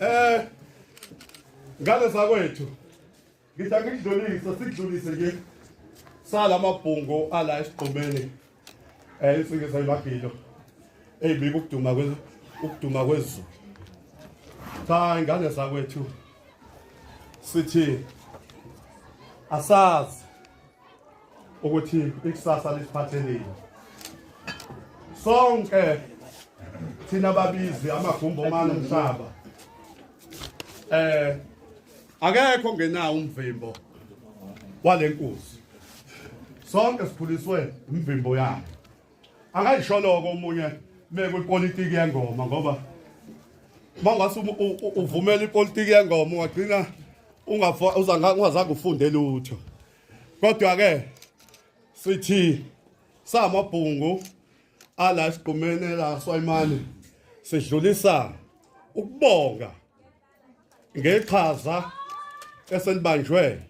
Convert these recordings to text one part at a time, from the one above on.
Eh ngane zakwethu ngitha ngidlulise sidlulise nje sala mabhungu ala esigqumeni eh isinge sayimagilo eyibika ukuduma kwe ukuduma kwezulu cha ingane zakwethu sithi asazi ukuthi ikusasa lisiphatheleni sonke thina babizi amagumbo omane umhlaba eh akekho ngenawo umvimbo walenkosi sonke sikhuliswe imvimbo yakhe akayisholoko omunye mekwipolitiki yengoma ngoba mawungase uvumela ipolitiki yengoma ungagcina ungazange ufunde lutho kodwa-ke sithi samabhungu ala sigqumene la swayimane sidlulisa ukubonga ngeqhaza esenibanjwe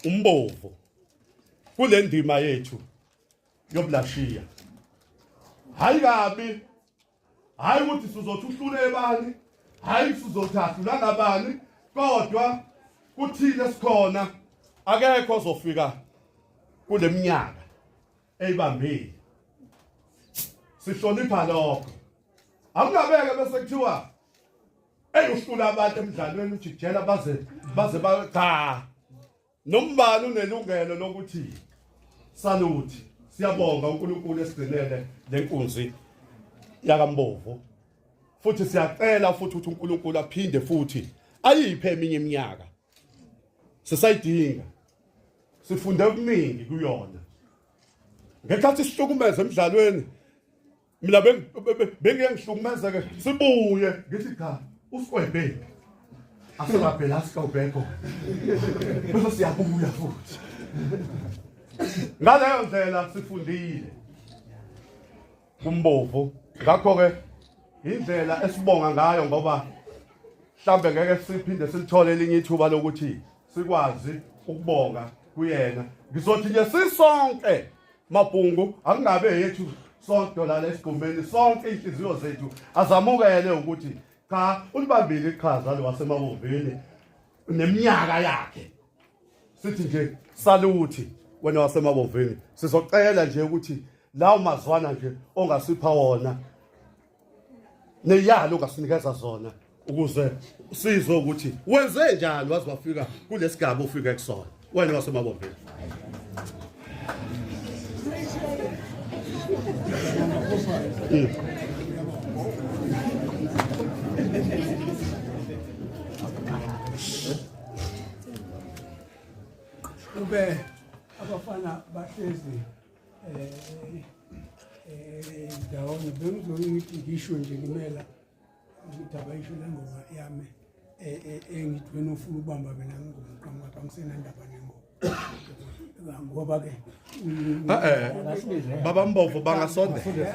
umbovu kule ndima yethu yoblashiya hayi kabi hayi ukuthi sizothi uhlule bani hayi sizothi ahlula ngabani kodwa kuthile sikhona akekho ozofika kuleminyaka eyibambile sihlonipha lokho akungabeke bese kuthiwa eyi uhlula abantu emdlalweni ujijela baze baze ba cha Nombani unelungelo lokuthi saluthi siyabonga uNkulunkulu esigcinele lenkunzi yakambovu futhi siyacela futhi ukuthi uNkulunkulu aphinde futhi ayiphe eminye iminyaka sisayidinga sifunde okuningi kuyona ngesikhathi sihlukumeza emidlalweni mina bengiyengihlukumeza ke sibuye ngithi cha usikwebheki asilabhela asikawubheko bese siyabuya futhi ngaleyo ndlela sifundile kumbovu ngakho-ke indlela esibonga ngayo ngoba mhlambe ngeke siphinde silithole elinye ithuba lokuthi sikwazi ukubonga kuyena ngizothi nje sisonke mabhungu akungabe yethu sonke lana esigumeni sonke inhliziyo zethu azamukele ukuthi cha ulibambile iqhaza lo wasemabovini neminyaka yakhe sithi nje saluthi wena wasemabovini sizocela nje ukuthi lawo mazwana nje ongasipha wona neyalo ngasinikeza zona ukuze sizwe ukuthi wenze njani waze wafika kulesigaba ofika kusona wena wasemabombeni ube abafana bahlezi ndawonye bengizoyithi ngisho nje kumela ukuthi abayisho le ngoma yami engithi wena ufuna ukubamba mina ngingoma qhamuka apha ngisenandaba nengoma ngoba ke baba mbovu bangasondela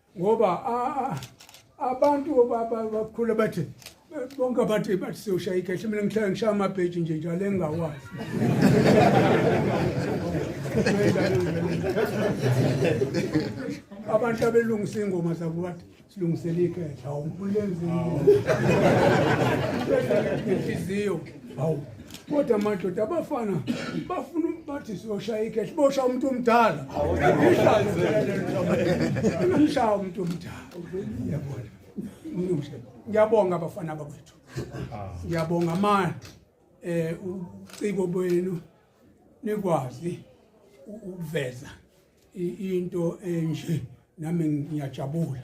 ngoba abantu bakhula bathi bonke abathi bathi siyoshaya ikhehle mina ngihlala ngishaya amabheji nje njalo engingawazi abantu abelungisa iy'ngoma zabo bathi silungisele ikhehle awumbulenzi inhliziyo hawu kodwa madoda abafana bafuna bathi siyoshaya ikhehle bosha umuntu omdala umshaya umuntu omdala yabona ngiyabonga abafana bakwethu ngiyabonga amandla eh uciko bwenu nikwazi ukuveza into enje nami ngiyajabula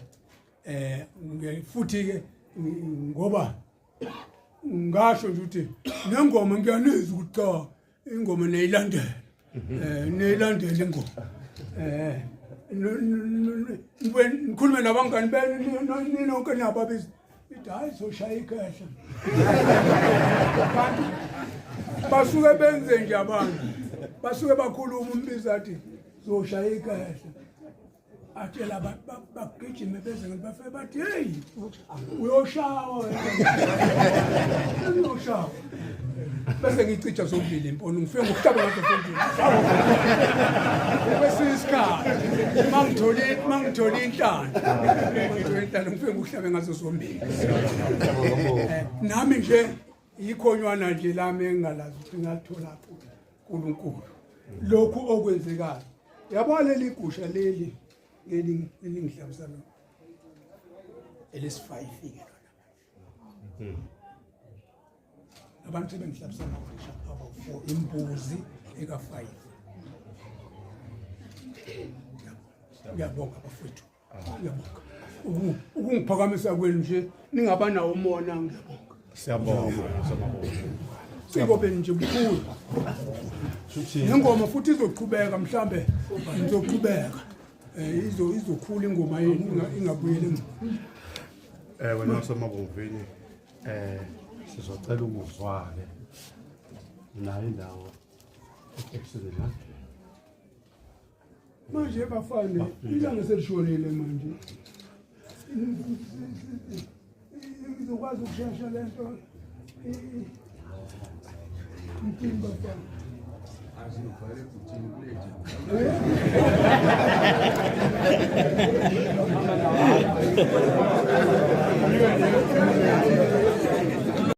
eh futhi ke ngoba ngasho nje ukuthi nengoma ngiyanizwa ukuthi cha ingoma neyilandela mhm. eh neyilandela ingoma eh nikhulume nabangani benu ninonke niyababisa ithi hayi soshaya ikhehla abantu basuke benze nje abantu basuke bakhuluma umbiza athi zoshaya ikhehla atshela abantu bagijime beze ngathi bafike bathi heyi uyoshawa uyoshawa bese ngicija zombili imponi ngifike ngokuhlaba ngazo zombili kwesinye isikhathi uma ngithole uma ngithole inhlanda uma ngithole inhlanda ngifike ngokuhlabe ngazo zombili eh, nami nje Ikhonywana nje lami engingalazi ukuthi ngathola kuye uNkulunkulu. Lokhu okwenzekayo. Yabona leli gusha leli leli elingidlamisa lo. Elesifayi fike lona. Hmm. Abantu sebengidlamisa ngagusha abafo imbuzi ekafayi. Ngiyabonga bafowethu. ukungiphakamisa kwenu nje ningaba nawo umona ngiyabonga siyabonga sikobeni nje bukhulu nengoma futhi izoqhubeka mhlambe izoqhubeka eh, izo izokhula ingoma yenu ingabuyele emuva eh wena wasemabomvini eh sizocela ukuzwake nayo indawo ekusizela manje bafane ilanga selishonile manje izokwazi ukushesha le nto mtini bafane Thank you.